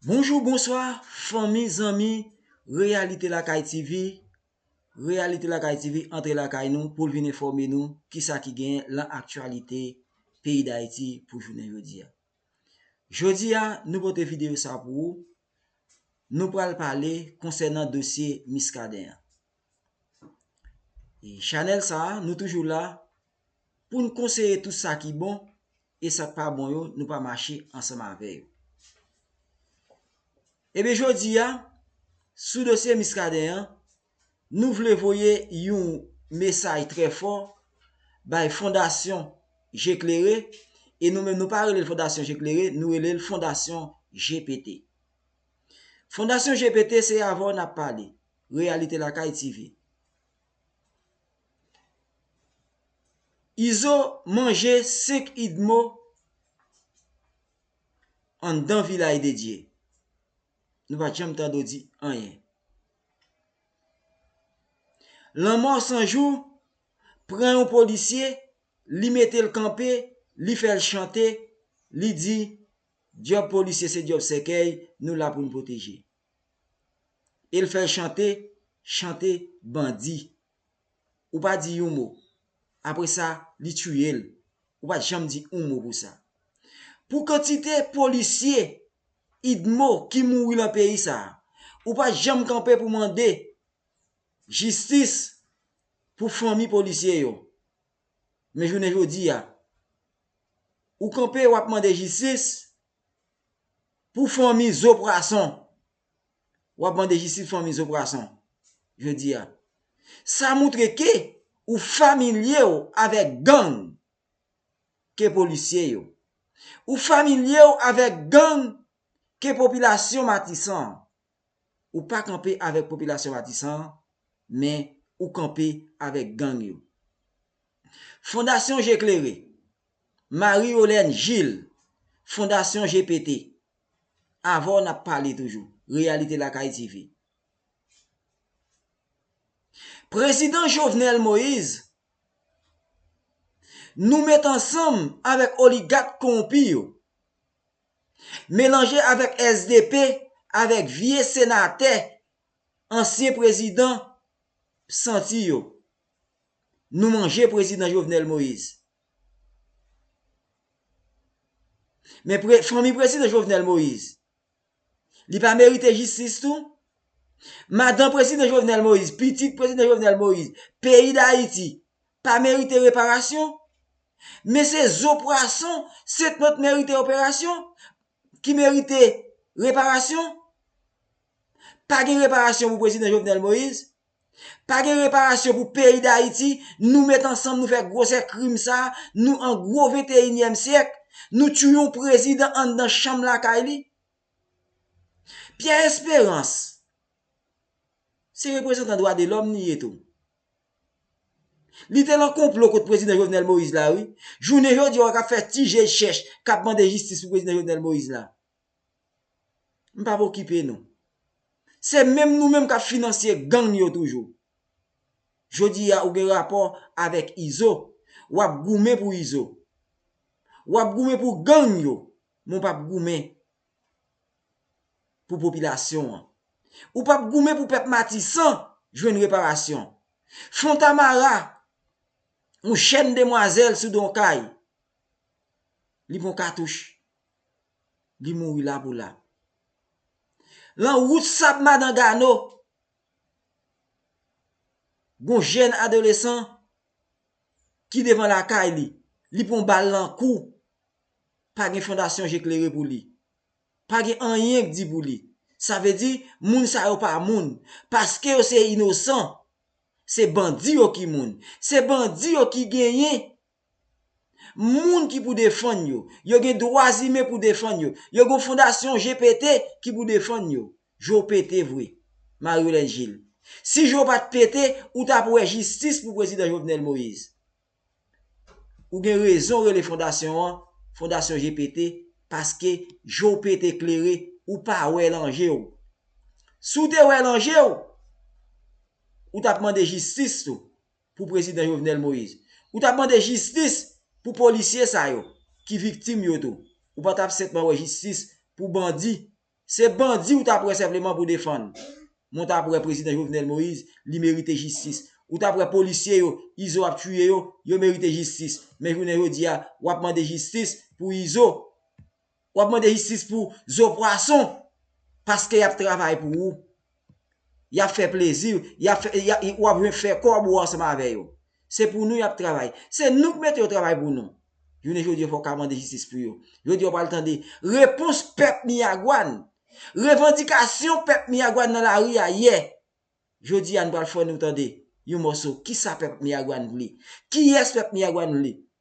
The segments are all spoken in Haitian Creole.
Bonjou bonswa fanmi zanmi reyalite lakay TV reyalite lakay TV antre lakay nou poul vin enfòme nou kisa ki genyen lan aktyalite peyi dayiti pou jounen jodi a jodi a nou pote videyo sa pou ou nou pral pale konsènan dosye miskaden an. E chanèl sa a, nou toujou la pou n konseye tout sa ki bon e sa k pa bon yo, nou pa mache ansanm avè yo. Ebyen jodi a, sou dosye Miskaden an, nou vle voye yon mesaj trè fò bay Fondasyon Je Klere e nou menm nou pa rele l Fondasyon Je Klere, nou rele l Fondasyon JPT. Fondasyon JPT se avè w n ap pale. Reyalite Lakay TV Izo manje 5 idmo anndan Vilaj de Dye Nou pa t janm tande w di anyen Lanmò 100 jou pran yon polisye li mete l kanpe li fè l chante li di djòb polisye se djòb sèkèy nou la pou n pwoteje El fèl chante chante bandi ou pa di yon mo apresa li tuyel ou pat janm di yon mo pou sa pou kantite polisye idmo ki mouri lan peyi sa ou pat janm kanpe pou mande jistis pou fanmi polisye yo men jounen jodi a ou kanpe wap mande jistis Pou fanmi zo pwason. W ap mande jistis pou fanmi zo pwason jodi a. Sa moutre ke ou familye w avèk gang ke polisye yo. Ou familye w avèk gang ke popilasyon Matisan an. Ou pa kanpe avèk popilasyon Matisan an, men ou kanpe avèk gang yo. Fondasyon Je Klere, Marie Yolène Gilles, Fondasyon Je Pete, avè w n ap pale toujou, Reyalite Lakay TV. Prezidan Jovenel Moise, Nou met ansanm avèk oligat kowonpi yo. Melanje avèk sdp avèk vye senatè ansyen prezidan p santi yo. Nou manje prezidan Jovenel Moise. Men fanmi prezidan Jovenel Moise li pa merite jistis tou? Madan prezidan Jovenel Moise, pitit prezidan Jovenel Moise, peyi dayiti pa merite reparasyon, men se zo pwason setnòt merite operasyon, ki merite reparasyon. Pa gen reparasyon pou Prezidan Jovenel Moïse, pa gen reparasyon pou peyi Dayiti, nou met ansanm nou fè gwosè krim sa, nou an gwo venteyinyèm syèk, nou tchouye yon Prezidan anndan chanm lakay li. Pierre Espérance, se reprezantan dwadelòm li ye tou. Li te lan konplo kont prezidan Jovenel Moïse la wi. Jounen jodi wè kap fè ti je chèch kap mande jistis pou prezidan Jovenel Moïse la. M pap okipe nou. Se menm nou menm kap finansye gang yo toujou. Jodi a ou gen rapò avèk Izo, wap goumen pou Izo. Wap goumen pou gang yo, men w pap goumen pou popilasyon an. Ou pa p goumen pou pèp Matisan jwenn reparasyon. Fontamara, yon jèn demwazèl sou don kay, li pran katouch, li mouri la pou la. Lan wout sab Madan Gano, yon jèn adolesan ki devan lakay li, li pran bal lan kou. pa gen fondasyon je klere pou li. Pa gen anyen k di pou li. Sa vle di, moun sa yo pa moun. Paske yo se inosan. Se bandi yo ki moun. Se bandi yo ki genyen moun ki pou defann yo. Yo gen dwa zimen pou defann yo. Yo gen yon fondasyon je pete ki pou defann yo. Je w pete vre, Marie-Hélène Gilles. Si je w pa t pete, ou t ap wè jistis pou Prezidan Jovenel Moïse. Ou gen rezon rele fondasyon an fondasyon je pete paske je w pete klere ou pa wè lan je w. Si w te wè lan je w, ou t ap mande jistis tou pou prezidan Jovenel Moïse. Ou t ap mande jistis pou polisye sa yo ki viktim yo tou. Ou pa t ap senpman wè jistis pou bandi Se bandi ou tap wè senpleman pou defann. Men w tap wè prezidan Jovenel Moise li merite jistis. Ou tap wè polisye yo Izo ap tiye yo, yo merite jistis. Men jounen jodi a wap mande jistis pou Izo. Wap mande jistis pou zo pwason paske yap travay pou ou. Y ap fè plezi, y ap fè, y a, ou ap fè kòb ou ansanm avè yo. Se pou nou y ap travay. Se nou k mete yo travay pou nou. Jounen jodi a fò w ka mande jistis pou yo. Jodi a w pral tande repons pèp Miyagwàn, revandikasyon pèp Miyagwàn nan lari a yè. Jodi a nou pral fè nou tande yon mòso kisa pèp Miyagwàn vle. Kiyès pèp Miyagwàn vle.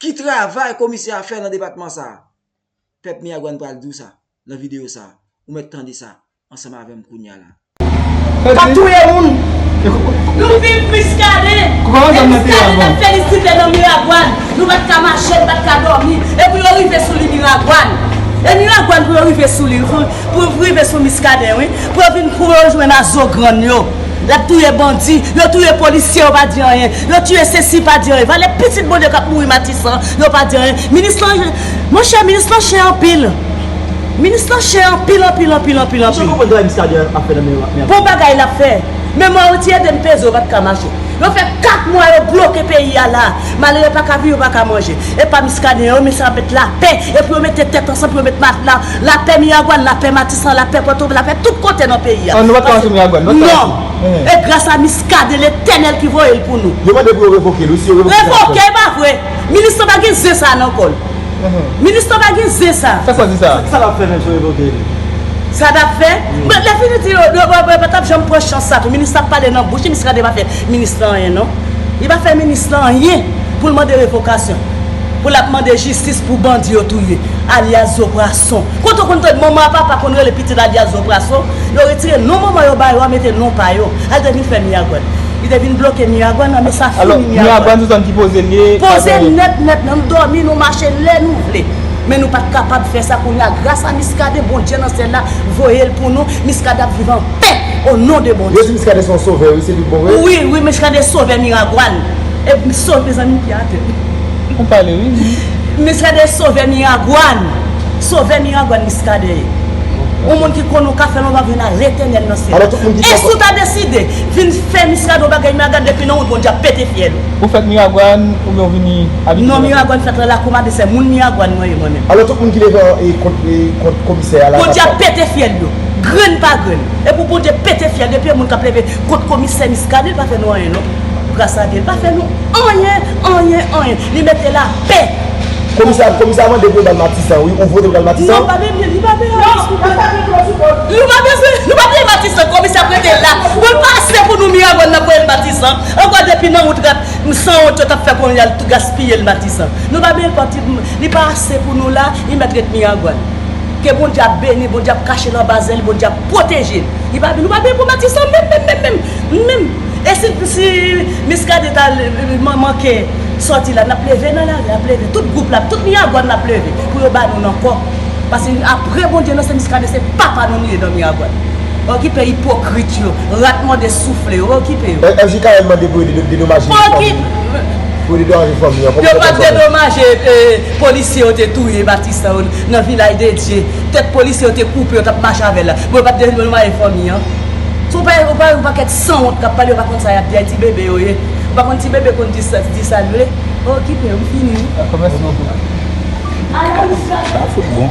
Ki travay komisè a fè nan depatman sa a? Pèp Miyagwàn pral di w sa nan videyo sa a. Ou mèt tande sa ansanm avè m kounya la. Kap touye moun! Nou viv Miskaden! E Miskaden ap felisite nan Miragwàn! Nou pa t ka mache, nou pa t ka dòmi, e pou yo rive sou li Miragwàn! E Miragwàn pou yo rive sou li, pou yo rive sou Miskaden wi, pou yo vin kou yo jwenn a zo grann yo! Lap touye bandi, yo touye polisye yo pa di anyen, yo tiye sesi pa di anyen, valè pitit Bondye kap mouri matisan yo pa di anyen, minis lan monchè minis lan chen anpil, minis lan chen anpil anpil anpil anpil anpil. Misye konprann travay Muscadin ap fè nan men yo. Bon bagay lap fè. Men mwen yo ti edem peze yo pat ka mache. Yo fè 4 mwa yo bloke peyi a la a. Malere yo paka viv yo paka manje. Epa Muscadin yo men sa yo met lapè epou yo mete tèt ansanm pou yo met matla Lapè Miragwàn, lapè Matisan, lapè Pòtovin, lapè tout kote nan peyi a. An nou pa t ka antre Miragwàn, nou pa t ka antre. Non! E gras a Miskaden, Letènèl ki voye l pou nou. Yo mande pou yo revoke l wi, si yo revoke l sa ap fèt. Revoke, e pa vre! Minis lan pa gen zen sa a nan kò l. Minis lan pa gen zen sa a. Sa sa di sa a? Sa l ap fè menm si yo revoke l? Sa l ap fè? Bon, lè fini di yo, yo pa t ap janm pran chans sa a tou. Minis lan ap pale nan bouch li, Miskaden pa fè minis lan anyen non. Li pa fè minis lan anyen pou l mande revokasyon. Pou lap mande jistis pou bandi yo touye alyas zo prason kote ou konn tande manman a papa konn rele pitit alyas zo prason yo retire non manman yo bayo a mete non pa yo al te vin fè miragwan li te vin bloke miragwan nan men sa fini miragwan poze nèt nèt nan nou domi nou mache lè nou vle men nou pat kapab fè sa kounye a gras a miskaden bondye nan syèl la voyel pou nou miskaden ap viv anpè o non de bondye wi wi miskaden sovè miragwan. Ep m sot mezanmi m pi atè wi. Ou pale wi ui. Miskaden sovè miragwan. Sovè miragwan miskaden ye. Yon moun ki konn ou ka fèl yon bagay nan letènèl nan syèl la. E si w ta deside vin fè miskaden yon bagay miragan depi nan wout bondye ap pete fyèl ou. Ou fèt miragwan oubyen ou vini abite nan lakou. Non miragwan m fèt nan lakou m abite se moun miragwan mwen ye mwen menm. Alò tout moun ki devan kont komisè a la. Bondye ap pete fyèl yo. Grenn pa grenn. Epou bondye pete fyèl depi yon moun kap leve kont komisè miskaden l pa fè nou anyen non. Gras a Dye l pa fè nou anyen anyen anyen li mete lapè. Komisè komisè a mande pou yo bal matisan wi ou vote pou bal matisan. Non pa de li pa de la wi silvouplè. Non pase kloti kol. Nou pa bezwen nou pa bezwen matisan komisè ap rete la poul pase pou nou miragwan nap voyel matisan ankò depi nan wout rat sanwont yo tap fè konnen yal gaspiyel matisan nou pa bezwen pati li pa ase pou nou la li mèt ret miragwan ke bondye ap beni bondye ap kachel anba zèl bondye ap pwotejel li pa nou pa bezwen pou matisan menm menm menm menm. E si si miskaden ta manke sòti la nap leve nan lari ap leve tout gwoup la tout miragwàn nap leve pou yo ba nou nan kò pase aprè bondye nan se miskaden se papa nou nou ye nan miragwàn okipe ipokrit yo rat mòde soufle yo okipe yo. MJKM mande pou yo dedomaje fanmi an kòman yo pral sove. Maje polisye yo te touye batistè yo nan vilaj dedye tèt polisye yo te koupe yo tap mache avèl la bon yo pat dedomaje fanmi an. Sou pa yon pa yon pakèt sanwont kap pale yo pa konn sa yap di a ti bebe yo ye ou pa konn ti bebe konn di sa di sal vle oh kite yo m fini wi. Bon mèsi bokou. Sa fout bon.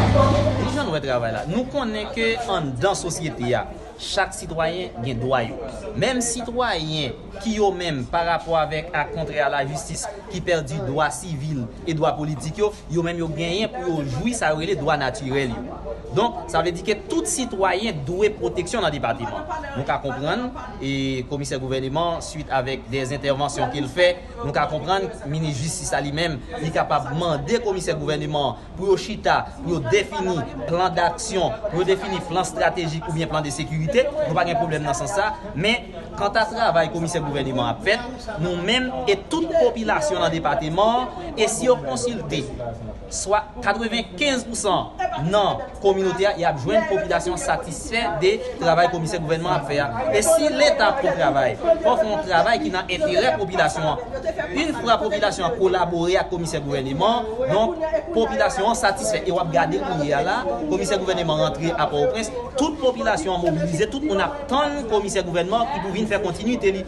Ki jan nou wè travay la? Nou konnen ke anndan sosyete a, chak sitwayen gen dwa yo. Menm sitwayen. ki yo menm pa rapò avèk ak kontrè a lajistis ki pèdi dwa sivil e dwa politik yo, yo menm yo genyen pou yo jwi sa yo rele dwa natirèl yo. Donk, sa vle di ke tout sitwayen dwe pwoteksyon nan depateman an. Nou ka konprann e komisè gouvèneman an swit avèk dè entèvansyon ke l fè, nou ka konprann minis jistis la li menm li kapab mande komisè gouvèneman an pou yo chita, pou yo defini plan daksyon, pou yo defini plan estratejik oubyen plan de sekirite, nou pa gen pwoblèm nan sans sa, men, kanta travay komisè gouvèneman ap fèt, nou menm e tout popilasyon nan depateman an, e si yo konsilte swa 95 pousan nan. kominote a e ap jwenn popilasyon an satisfè de travay komisè gouvènman an ap fè a. E si leta ap fè yon travay, fò w fè yon travay ki nan enterè popilasyon an. Yn fwa popilasyon an kolabore ak komisè gouvèneman, donk popilasyon an satisfè. E w ap gade kounye a la, komisè gouvèneman rantre a Pòtoprens, tout popilasyon an mobilize, tout moun ap tann komisè gouvènman ki pou vin fè kontinite li.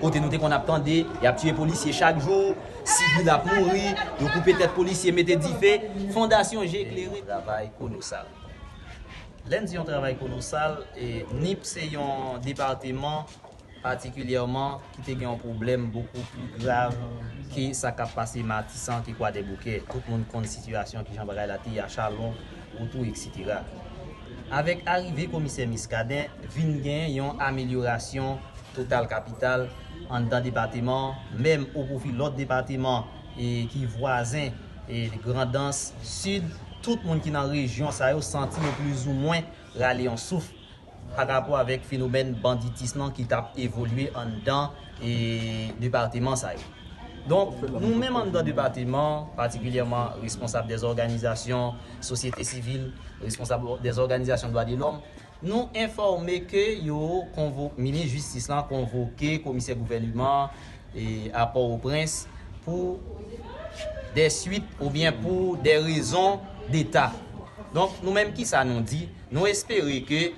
Kote nou te konn ap tande, yap tiye polisye chak jou, sivil ap mouri, yo koupe tèt polisye mete dife, fondasyon je klere. Yon travay kolosal. Lè n di yon travay kolosal, Nip se yon depateman patikilyèman ki te gen yon pwoblèm bokou pli grav ke sa kap pase Matisan ke Kwadèboukè. Tout moun konn sitiyasyon kijan bagay la te ye a Chalon. oto eksetera. Avèk arive komisè Miskaden vin gen yon amelyorasyon total kapital anndan depateman an menm o pwofi lòt depateman ki vwazen Grandans, Sid, tout moun ki nan rejyon sa yo santi yo plizoumwen rale yon souf. pa rapò avèk fenomèn banditism lan ki t ap evolye anndan depateman sa yo. Donk, nou menm anndan depateman an, patikilyèman responsab dè òganizasyon sosyete sivil, responsab dè òganizasyon dwa de lòm, nou enfòme ke yo konvo, minis jistis lan konvoke komisè gouvèneman an a Pòwoprens pou dè swit oubyen pou dè rezon deta. Donk, nou menm ki sa nou di? Nou espere ke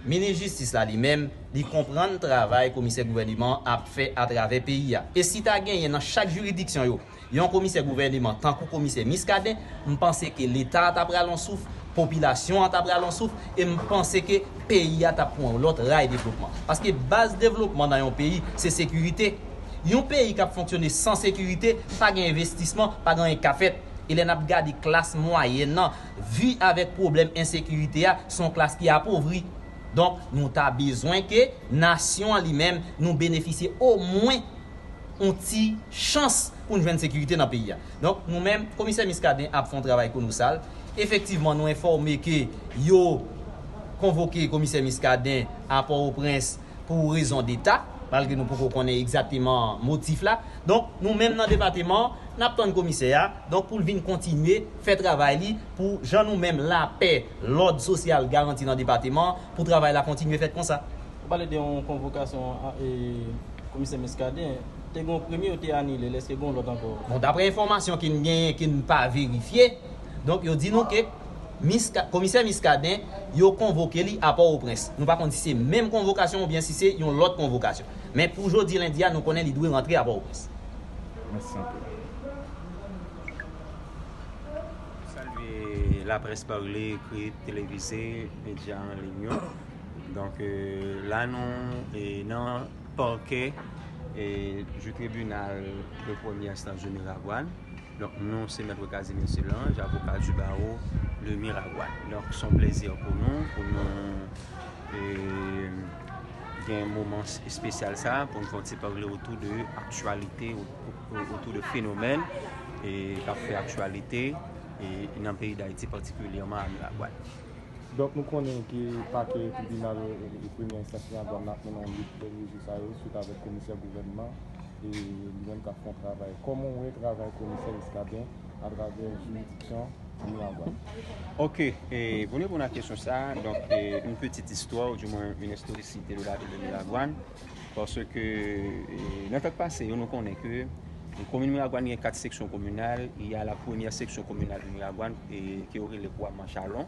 Minis Jistis la li menm, li konprann travay Komisè Gouvèneman an ap fè atravè peyi a. E si ta genyen nan chak jiridiksyon yo, yon Komisè Gouvèneman tankou Komisè Muscadin, m panse ke Leta a ta pral yon souf, popilasyon an ta pral yon souf, e m panse ke peyi a t ap pran yon lòt ray devlopman. Paske baz devlopman nan yon peyi, se sekirite. Yon peyi k ap fonksyone san sekirite, pa gen envestisman, pa gen anyen k ka fèt. E lè n ap gade klas mwayèn nan, vi avèk pwoblèm ensekirite a se yon klas ki apovri. Donk nou ta bezwen ke nasyon an li menm nou benefisye omwen yon ti chans pou n jwenn sekirite nan peyi a. Donk nou menm komisè Muscadin ap fè yon travay konosal. Efektivman nou enfòme ke yo konvoke komisè Muscadin a Pòwoprens pou rezon deta, malgre nou poko konnen egzateman motif la. Donk, nou menm nan depateman an, n ap tann komisè a, donk pou l vin kontinye fè travay li pou jan nou menm lapè, lòd sosyal garanti nan depateman an, pou travay la kontinye fèt konsa. Ou pale de yon konvokasyon komisè Muscadin, te gen yon premye yo te anile, èske gen yon lòt ankò? Bon, daprè enfòmasyon ke n genyen, ke n pa verifye, donk yo di nou ke. Miska, Komisè Miskaden, yo konvoke li a Pòwoprens. Nou pa konn si se menm konvokasyon oubyen si se yon lòt konvokasyon. Men pou jodi lendi a nou konnen li dwe rantre a Pòwoprens. Mèsi anpil. Nou salye laprès parle, ekrit, televize, medya an liy yo. Donk la nou nan Pakè jou tribinal de premyè enstans de Miragwàn. Donk nou se Maitre Casimir Solange, avoka du barreau de Miragoâne. Donk son plezi pou nou, pou nou gen moman espesyal sa, pou nou fon ti pale otou de aktualite, otou de fenomèn e kap fè aktualite e nan peyi d'Haiti patikilyèman a Miragoâne. Donk nou konnen ke pake tribinal premyè enstans Miragoâne ap mennen yon lit pou jou sa yo swit avèk komisè gouvènman. e li menm kap fon travay koman ou wè travay komisè miskaden atravè jiridiksyon miragwan. Ok e pou n reponn a kesyon sa donk yon pitit istwa ou di mwen yon istorisite de lavil de miragwan paske nan tan pase yo nou konnen ke komin miragwan gen 4 seksyon kominal e a la premyè seksyon kominal de miragwan e ke yo rele kwa manchalon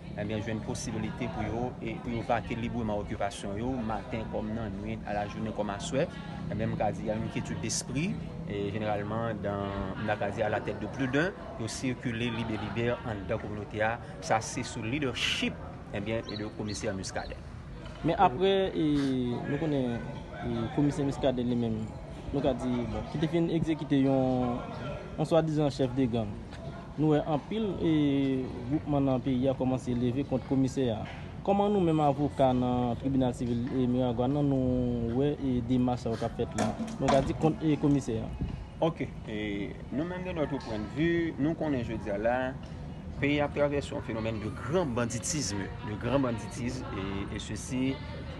Ebyen jwenn posibilite pou yo e pou yo vake libreman okipasyon yo maten kòm nan nwit, a la jounen kòm aswè, ebyen m ka di a yon kyetid despri e jeneralman dan m ta ka di a la tèt de pli d'un yo sikile lib e libè anndan kominote a sa se sou lidèchip ebyen de komisè Muscadin. Men apre e nou konnen e komisè Muscadin li menm nou ka di bon ki te fin egzekite yon yon swadizan chèf de gang. Nou wè anpil gwoupman nan peyi a kòmanse leve kont komisè a. Kòman nou menm avoka nan tribinal sivil Miragwàn nan nou wè demach sa yo k ap fèt la, nou ka di kont komisè a? Ok. Nou menm de notre point de vue, nou konnen jodi a la, peyi a ap travèse yon fenomèn de gran banditisme, de gran banditisme e sesi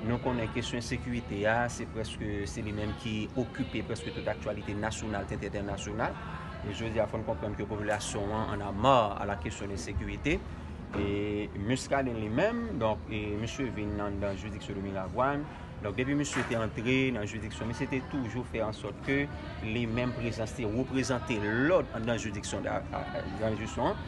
nou konnen kesyon ensekirite a se prèske se li menm ki okipe prèske tout aktyalite nasyonal tèt entènasyonal. E jodi a fò n konprann ke popilasyon an an a ma a la kesyon de sekirite. E Muscadin li menm, donk e misye vin nan nan jiridiksyon de Miragwàn. Donk depi misye te antre nan jiridiksyon, misye te toujou fè an sòt ke li menm prezans li reprezante lòd anndan jiridiksyon da, anndan jiridiksyon an.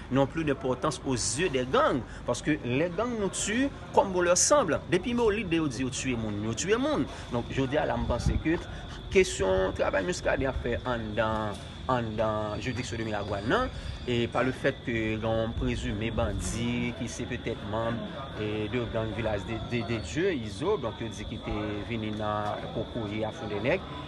non plus de portans o zye dè gang paske lè gang nou tu kòm bon lè sanbl depi me olid de yo di yo tuye moun yo tuye moun donk jodi a la m panse ke kesyon travay muscadin ap fè anndan anndan juridiksyon de miragwàn nan e pa le fèt ke gen yon prezime bandi ki se petèt manb e de gang vilaj de de dye izo donk yo di ki te vini nan kokoye a fou de nèg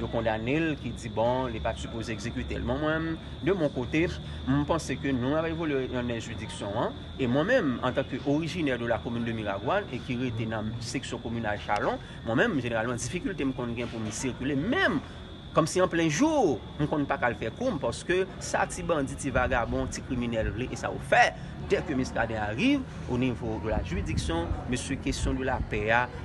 yo kondanel ki di bon li pat sipoze ekzekitel bon mwen de mon kote m panse ke nou ap evolye nan men jiridiksyon an e mwen menm antanke orijinè de la komin de miragwan e ki rete nan seksyon kominal chalon mwen menm jeneralman difikilte m konn gen pou m sikile menm kòm si an plen jou m konn pa ka al fè koum paske sa ti bandi ti vagabon ti kriminèl vle e sa yo fè dèke miskaden ariv o nivo de la jiridiksyon mesye kesyon de la pè a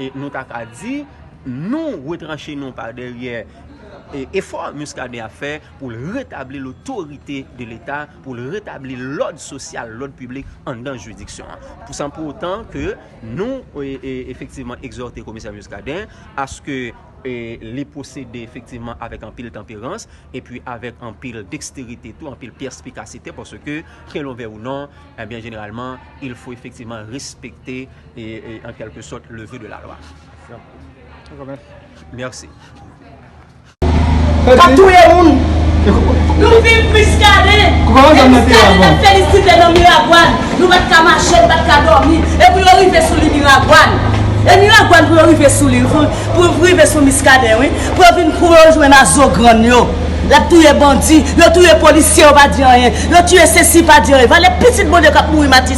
E nou ta ka di, nou retranche nou pa dèryè efò Muscadin ap fè pou l retabli lotorite de leta, pou l retabli lòd sosyal, lòd piblik anndan jiridiksyon an. San pou otan ke nou efektivman egzòte komisè Muscadin aske li pwosede efektivman avèk anpil tanperans epi avèk anpil deksterite tou, anpil pèspikasite paske, ke lon vè ou non, jeneralman, il fo efektivman respekte. e an kelke sot leve de la lwa. Merci. Kap touye moun. Nou viv miskaden. E miskaden tap felisite nan miragwan. Nou pat ka mache nou pat ka domi. E pou yo rive sou li miragwan. E miragwan pou yo rive sou li. Pou yo rive sou miskaden wi. Pou yo vin pou yo jwen a zo grann yo. Lap touye bandi. Yo touye polisye yo pa di anyen. Yo touye sesi pa di anyen. Vale pitit bondye kap mouri matis.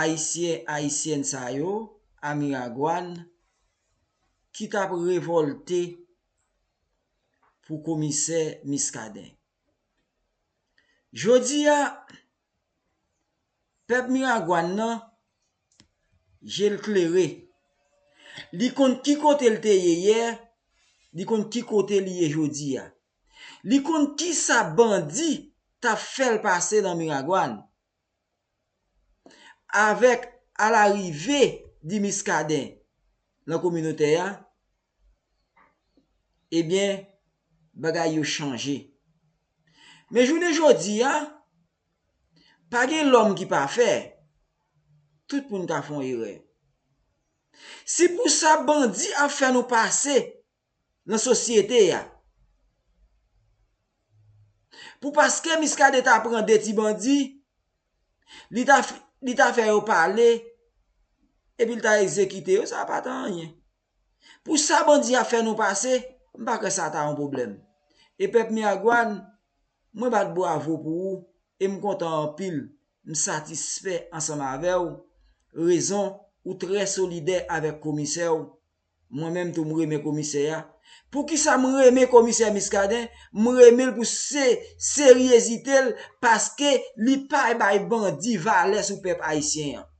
Ayisyen, Ayisyèn sa yo, a Miragwàn, ki t ap revòlte pou komisè Miskaden. Jodi a, pèp Miragwàn nan, je l klere. Li konn ki kote l te ye yè, li konn ki kote li ye jodi a. Li konn kisa bandi t ap fè l pase nan Miragwàn. Avèk alarive di Muscadin nan kominotè a, ebyen bagay yo chanje. Men jounen jodi a, pa gen lòm ki pafè, tout moun ka fon erè. Si pou sa bandi ap fè nou pase nan sosyete a. Pou paske Miskaden ta pran 2 ti bandi, li ta fè yo pale, epi li ta egzekite yo, sa pa ta anyen. Pou sa bandi a fè nou pase, m pa kwè sa ta yon pwoblèm. E pèp Miragwàn, mwen bat bwavo pou ou, e m kontan anpil, m satisfè ansanm avè w, rezon ou trè solidè avèk komisè w, Mwen menm tou m renmen komisè a. Poukisa m renmen komisè Muscadin, m renmen l pou se seryezite l paske li pa bay bandi valè sou pèp ayisyen an.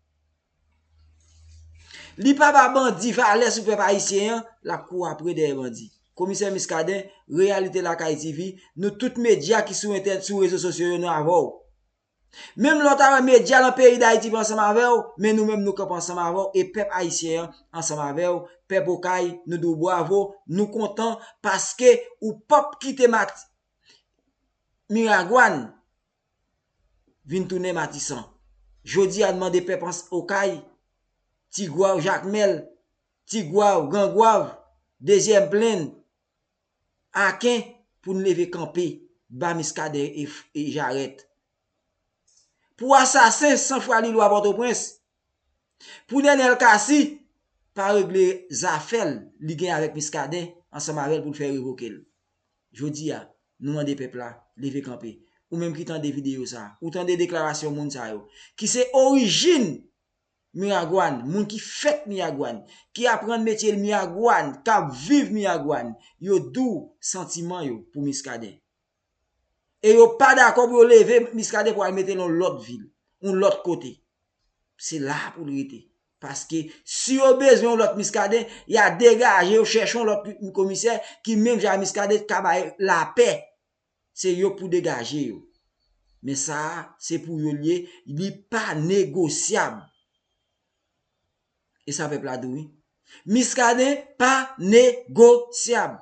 Li pa ba bandi valè sou pèp ayisyen an, l ap kouri apre dèyè bandi. Komisè Muscadin, Reyalite Lakay TV, nou tout medya ki sou entè sou rezo sosyo yo nou avè w. Menm lè w ta wè medya lan peyi Dayiti pa ansanm avè w, men nou menm nou kanpe ansanm avè w e pèp Ayisyen an ansanm avè w, pèp Okay nou di w bwavo, nou kontan paske ou p ap kite Mati Miragwàn vin tounen Matisan. Jodi a n mande pèp Okay, Tigwav, Jakmèl, Tigwav, Grangwav, Dezyèm Plenn, Aken pou n leve kanpe ba Miskaden e Jarèt. Pou asasen san fwa li lwa Pòtoprens. Pou Nenel Cassy pa regle zafè l li gen avèk Miskaden ansanm avè l pou l fè revoke l. Jodi a, nou mande pèp la leve kanpe. Ou menm ki tande videyo sa, ou tande deklarasyon moun sa yo ki se orijin Miragwàn, moun ki fèt Miragwàn, ki aprann metye Miragwàn, k ap viv Miragwàn, yo dou santiman yo pou Miskaden. E yo pa dakò pou yo leve Miskaden pou al mete l yon lòt vil, yon lòt kote. Se la pou l rete. Paske, si yo bezwen yon lòt Miskaden, y a degaje yo chèche yon lòt komisè ki menm jan a Miskaden, k ka bay lapè se yo pou degaje yo. Men sa a se pou yo l ye, li pa negosyab. E sa pèp la di wi. Miskaden pa negosyab.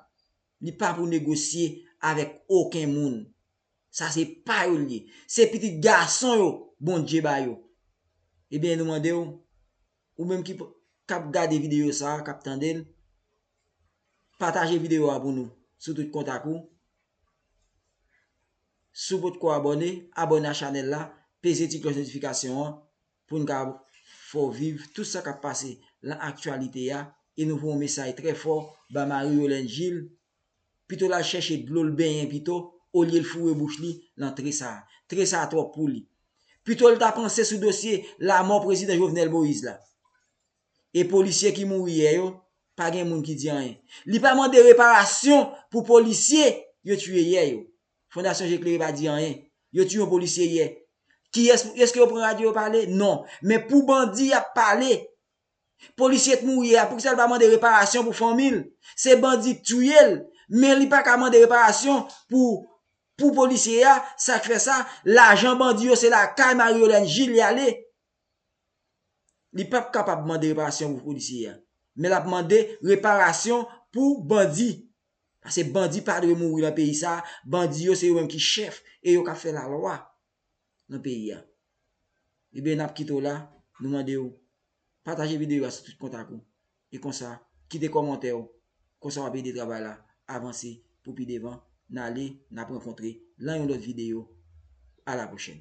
Li pa pou negosye avèk oken moun. Sa se pa yo l ye. Se pitit gason yo Bondye ba yo. Ebyen nou mande w, ou menm ki ap gade videyo sa a, k ap tande l, Pataje videyo a pou nou sou tout kontak ou. Si w potko abòne, abòne a chanèl la, peze ti klòch notifikasyon an pou n ka fè w viv tout sa k ap pase lan aktyalite a e nou voye yon mesaj trè fò ba Marie Yolène Gilles pito l al chèche dlo l benyen pito olye l foure bouch li lan tre sa a. Tre sa a twòp pou li. Pito l ta panse sou dosye lamò Prezidan Jovenel Moïse la. E polisye ki mouri yè yo, pa gen moun ki di anyen. Li pa mande reparasyon pou polisye yo tiye yè yo. Fondasyon Je Klere pa di anyen. Yo tiye yon polisye yè. Kiyès, eske yo pran radyo yo pale? Non. Men pou bandi y ap pale. Polisye k mouri yè a, poukisa l pa mande reparasyon pou fanmi l? Se bandi k tiye l, men li pa ka mande reparasyon pou pou polisye a, sa k fè sa, lajan bandi yo se lakay Marie Holène Gilles y ale. Li pap kapab mande reparasyon pou polisye a. Men lap mande reparasyon pou bandi. Pase bandi pa dwe mouri nan peyi sa a. Bandi yo se yo menm ki chèf e yo kap fè la lwa nan peyi a. Ebyen nap kite w la. Nou mande w pataje videyo a sou tout kontak ou. E konsa kite kòmantè w. Konsa wap ede travay la avanse pou pi devan. Nale nap rankontre lan yon lòt videyo. A la pwochèn.